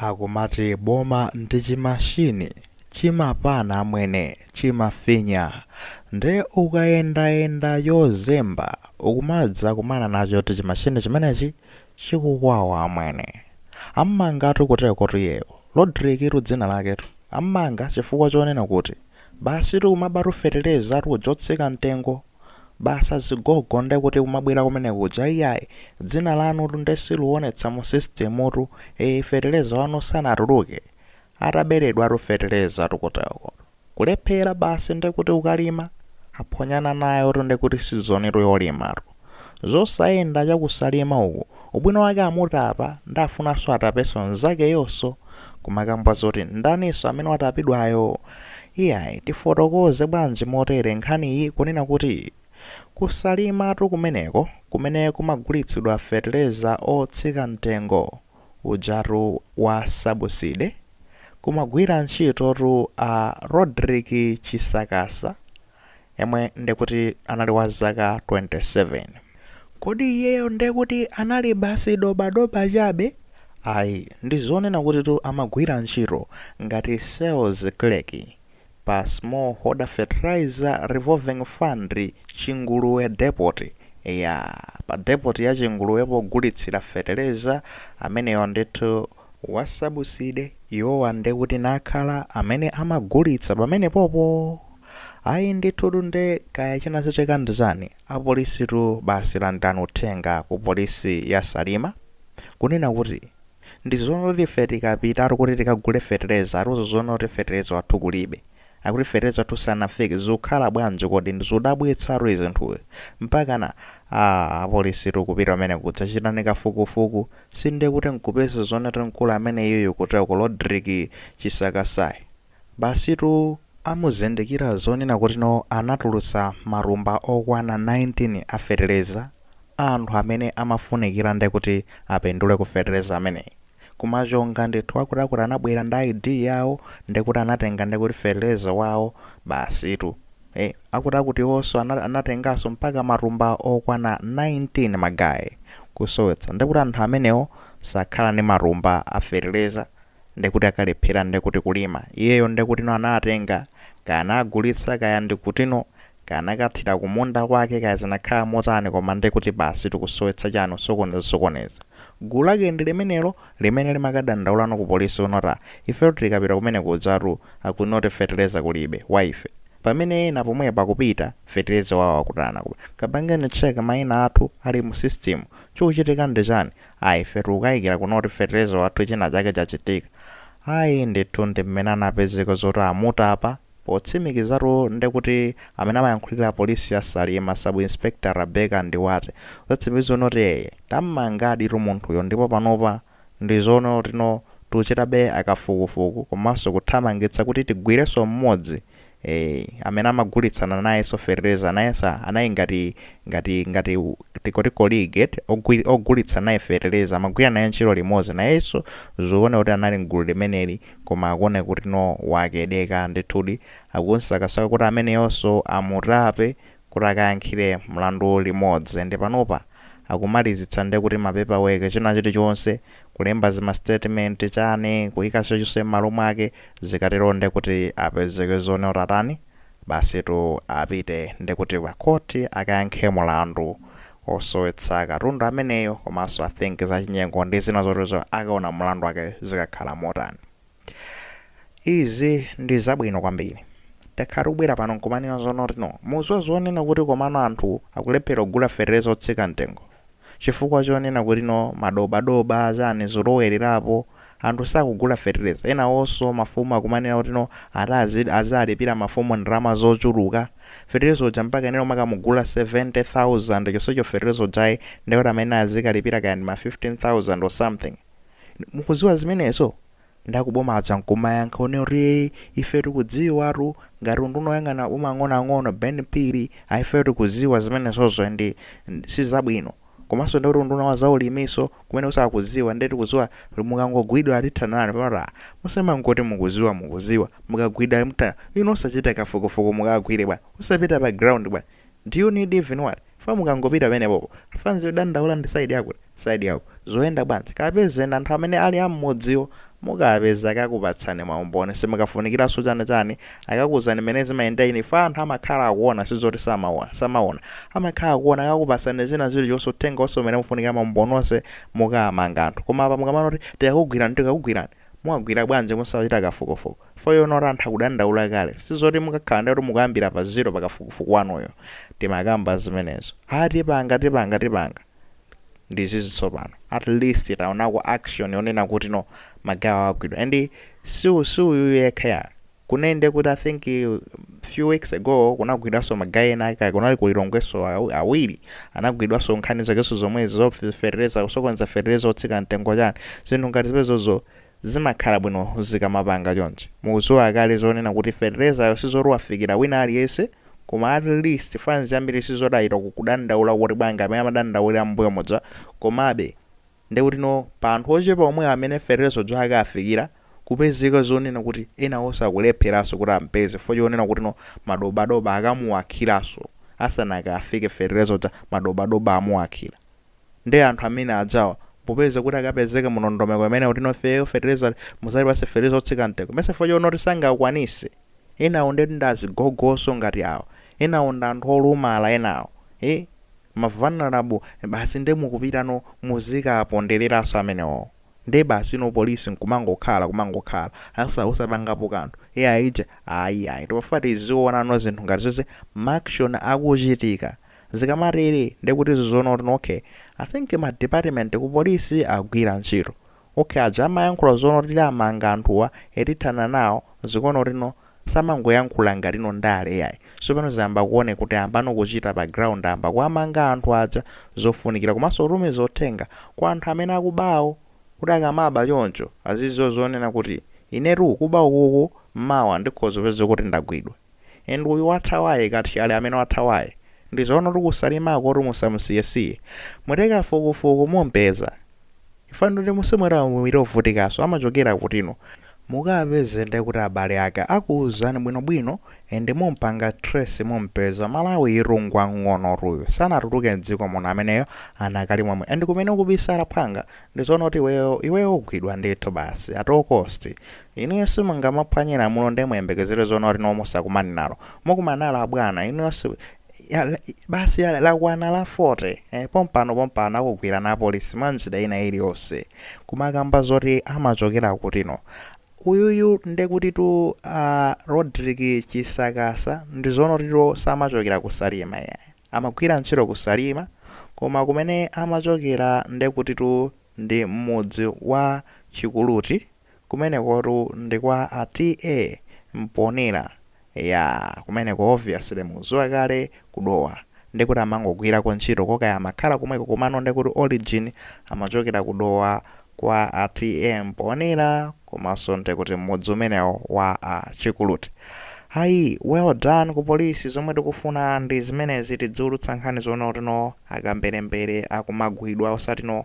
Akumati boma ndi chimashini chimapana amwene chimafinya nde ukayendayenda yozemba ukumadzakumana nacho kuti chimashini chimenechi chikukwawa amwene. Ammangatu kutekotu iyeyo Rodrick-tu dzina laketu ammanga chifukwa chonena kuti basitu kumabatu fetelezatu otsika mtengo. basi azigogo nde kuti kumabwera kumene kuja iyayi dzina lanutu nde siluonetsa mu sisitemutu ee feteleza wanu sanatuluke ataberedwatu fetelezatu kuteko kulephera basi nde kuti kukalima aphonyana nayotu nde kuti sizonitu yolimatu zosayenda cha ku Salima uku ubwino wake amutapa nde afunanso atapenso nzakeyonso kumakamba zoti ndaninso amene watapidwayo Iyayi, tifotokoze bwanji motere nkhaniyi kunena kuti ku Salimatu kumeneko, kumene kumagulitsidwa fetereza otsika mtengo ujatu wa sabuside, kumagwira ntchitotu a Rodrick Chisakasa yemwe ndekuti anali wa zaka 27. Kodi iyeyo ndekuti anali basi dobadoba chabe? Ayi, ndi zonena kutitu amagwira ntchito ngati sales clerk pa Smallholder Fertilizer Revolving Fund, Chinguluwe Depot. Eya, pa depot ya Chinguluwe pogulitsira feteleza ameneyo ndithu. wasabuside iwowa ndekuti nakhala amene amagulitsa pamenepopo ayi ndithutu nde kaya chinachitika ndichani apolisitu basi landilani uthenga ku polisi ya Salima kunena kuti ndizonoti ife tikapitatu kuti tikagule fetereza atiuza zonoti fetereza wathu kulibe Akuti fetereza athu sanafike zikukhala bwanji kodi ndizodabwitsatu zinthuzi mpakana aah apolisitu kupita kumeneko kudzachitani kafukufuku si ndiye kuti nkupeza zonoti mkulu ameneyuyu kuteloko Rodrick Chisakasayi basitu amuzindikira zonena kuti no anatulutsa matumba okwana 19 a fetereza a anthu amene amafunikira ndekuti apindule ku fetereza ameneyi. kumachonga ndithu akutiakuti anabwera ndi ID yawo ndekuti anatenga ndekuti fetereza wawo basitu eh akutiakutiwonso ana- anatenganso mpaka matumba okwana 19 magaye kusowetsa ndekuti anthu amenewo sakhala ndi matumba a fetereza ndekuti akalephera ndekuti kulima iyeyo ndekutino anatenga kaya anagulitsa kaya ndikutino Kaya anakathira kumunda kwake kaya zinakhala motani koma nde kuti basi tikusowetsa chanu osokoneza osokoneza. Gulu lake ndi limenelo limene limakadandaulano ku police kunoti ah ifetu tikapita kumeneko kudzatu akunoti fetereza kulibe wa ife pamene ena pomwepo akupita fetereza wawo akutana koma kapangeni check maina athu ali mu system chikuchitika ndi chani ah ife tikukaikira kunoti fetereza wathu china chake chachitika ayi ndithu ndi mmene anapezeka zoti amutapa Potsimikizatu nde kuti amene amayankhulira polisi ya Salima Sub Inspector Rebecca Ndiwate watsimikiza zonoti ee tammangaditu munthuyo ndipo panopa ndi zonoti no tuchitabe akafukufuku komanso kuthamangitsa kuti tigwirenso mmodzi ee amene amagulitsana nayenso fetereza nayenso anali ngati ngati ngati tingoti colleague eti ogwi ogulitsa naye fetereza amagwira naye ntchito limodzi nayenso zikuoneka kuti anali mgulu limeneli koma akuoneka kuti no wakedeka ndithudi akunsakasaka kuti ameneyonso amutape kuti akayankhire mlandu limodzi nde panopa akumalizitsa nde kuti ma paper work china chilichonse kulemba zima statement chani kuika chilichonse mmalo mwake zikatero nde kuti apezeke zonoti atani basitu apite nde kuti pa court akayankhe mlandu osowetsa katundu ameneyo komanso I think zachinyengo ndi zina zoterozo akaona mulandu wake zikakhala motani. Izi ndi zabwino kwambiri. Takhala tikubwera pano nkumanena zonoti no mudziwa zonena kuti komano anthu akulephera kugula fetereza otsika mtengo chifukwa chonena kuti no madobadoba chani zolowelerapo Anthu sakugula feteleza enawonso mafumu akumanena kuti no ati azi azalipila mafumu ndalama zochuluka feteleza uja mpaka eneyo kumakamugula 70,000 chonsecho feteleza ujayi nde kuti amayenela azikalipila kaya ndi ma 15,000 or something inu mukuziwa zimenezo nde akuboma aja nkumayankha kunena kuti ee ife tikudziwa tu ngati nduna yoyang'ana maboma ang'onoang'ono Ben Phiri ayi ifeyo tikuziwa zimenezozo and sizabwino komanso ndekuti unduna wa za ulimiso kumeneko sakuziwa nde tikuziwa kuti mukangogwidwa tithana nanu kumati aah musamangoti mukuziwa mukuziwa mukagwidwa mutani inu osachita kafukufuku mukawagwire bwana osapita pa ground bwana do you need even what chifukwa mukangopita penepopo fans yodandaula ndi side yakuti side yakuti zikuyenda bwanji kapezeni anthu amene ali ammudziwo Mukapeza akakupatsani maumboni simukafunikiranso chani chani, akakuuzani mmene zimayendera ine chifukwa anthu amakhala akuona sizoti samaona, samaona, amakhala akuona akakupatsani zina zilichonse uthenga onse umene mufunikira maumboni onse mukamanga anthu koma apa mukamanena kuti tikakugwirani tikakugwirani muwagwira bwanji musachita kafukufuku for you know that anthu akudandaula kale sizoti mukakhala ndiye kuti mukuyambira pa zero pa kafukufuku wanuyo timakamba zimenezo haa tipanga tipanga tipanga ndizizi tsopano at least taonako action yonena kuti no magayiwo agwidwa and si si uyuyu yekha ya kunene ndiye kuti i think uh, few weeks ago kunagwidwanso magayi ena ake kaya kunali ku Lilongweso aw- awiri anagwidwanso nkhani zakenso zomwezi za feteleza kusokoneza feteleza otsika mtengo chani zinthu ngati zimenezozo zimakhala bwino zikamapanga chonchi mukudziwa kale zonena kuti feteleza sizoti wafikira wina aliyense Koma at least fans yambiri sizoti achita kudandaula kuti bwanji amene amadandaulira mmbuyo muja komabe nde kuti no pa anthu ochepa omwe amene feteleza uja akafikira kupezeka zonena kuti enaonso akulepheraso kuti ampeze chifukwa chonena kuti no madobadoba akamuwakhiraso asanakafike feteleza uja madobadoba amuwakhira. Nde anthu amene ajawa popeza kuti akapezeka mu nondomeko imeneyo kuti no feyo fertilizer muzatipase fertilizer otsika mtengo mesa chifukwa chonoti sangakwanise enawo nde ndi azigogoso ngati awa enawo ndi anthu olumala enawo ee ma vulnerable basi nde mukupita no muzikapondeleranso amenewowo nde basi no police nkumangokhala kumangokhala asa osapangapo kanthu ee aija ayi ayi timafuna tiziona no zinthu ngati izozo ma action akuchitika Zikamatere nde kuti zizoona kuti ok i think ma department ku police akugwira ntchito ok aja amayankhula zonena kuti tiwamanga anthuwa ee tithana nawo zikuona kuti no samangoyankhula ngati no ndale yayi tsopano zayamba kuoneka kuti ayambano kuchita pa ground ayamba kuwamanga anthu aja zofunikira komanso kutumiza uthenga kwa anthu amene akubawo kuti akamaba choncho aziziwa zonena kuti inetu kuba ukuku mawa ndikhoza kupezeka kuti ndagwidwa and uyu wathawayu kathyali amene wathawayu ndizoona kuti ku Salimakotu musamusiyesiye muite kafukufuku mumpeza chifukwa ndoti musimwera muwiri ovutikaso amachokera kuti no mukawapeze ndekuti abale ake akuuzani bwinobwino and mumpanga trace mumpeza Malawiyutu ngwamng'onotu uyu sanatuluke mdziko muno ameneyo anakali momwe and kumene ukubisala phwanga ndizoona kuti iweyo iweyo ugwidwa ndithu basi at all cost Inuyo simungamaphwanye lamulo nde muyembekezere zonena kuti no musakumane nalo. Mukumana nalo abwana inuyo si ya, basi ya, lakwana la 40 eh, pompano pompano akugwirani apolisi mwa njira ina iliyonse. Kumakamba zoti amachokera kuti no. Uyuyu nde kuti tu a Rodrick Chisakasa ndi zoona kuti tu samachokera ku Salima ya. Amagwira ntchito ku Salima koma kumene amachokera nde kuti tu ndi m'mudzi wa Chikuluti. Kumenekotu ndi kwa a TA Mponela iyaa kumeneko obviously muziwa kale ku Dowa nde kuti amangogwirako ntchito koma kaya amakhala komweko komano nde kuti origin amachokera ku Dowa kwa a TA Mponela komanso nde kuti mmudzi umenewo wa a Chikuluti ayi well done ku police zomwe tikufuna ndi zimenezi tidziulutsa nkhani zoona kuti no akamberembere akumagwidwa osati no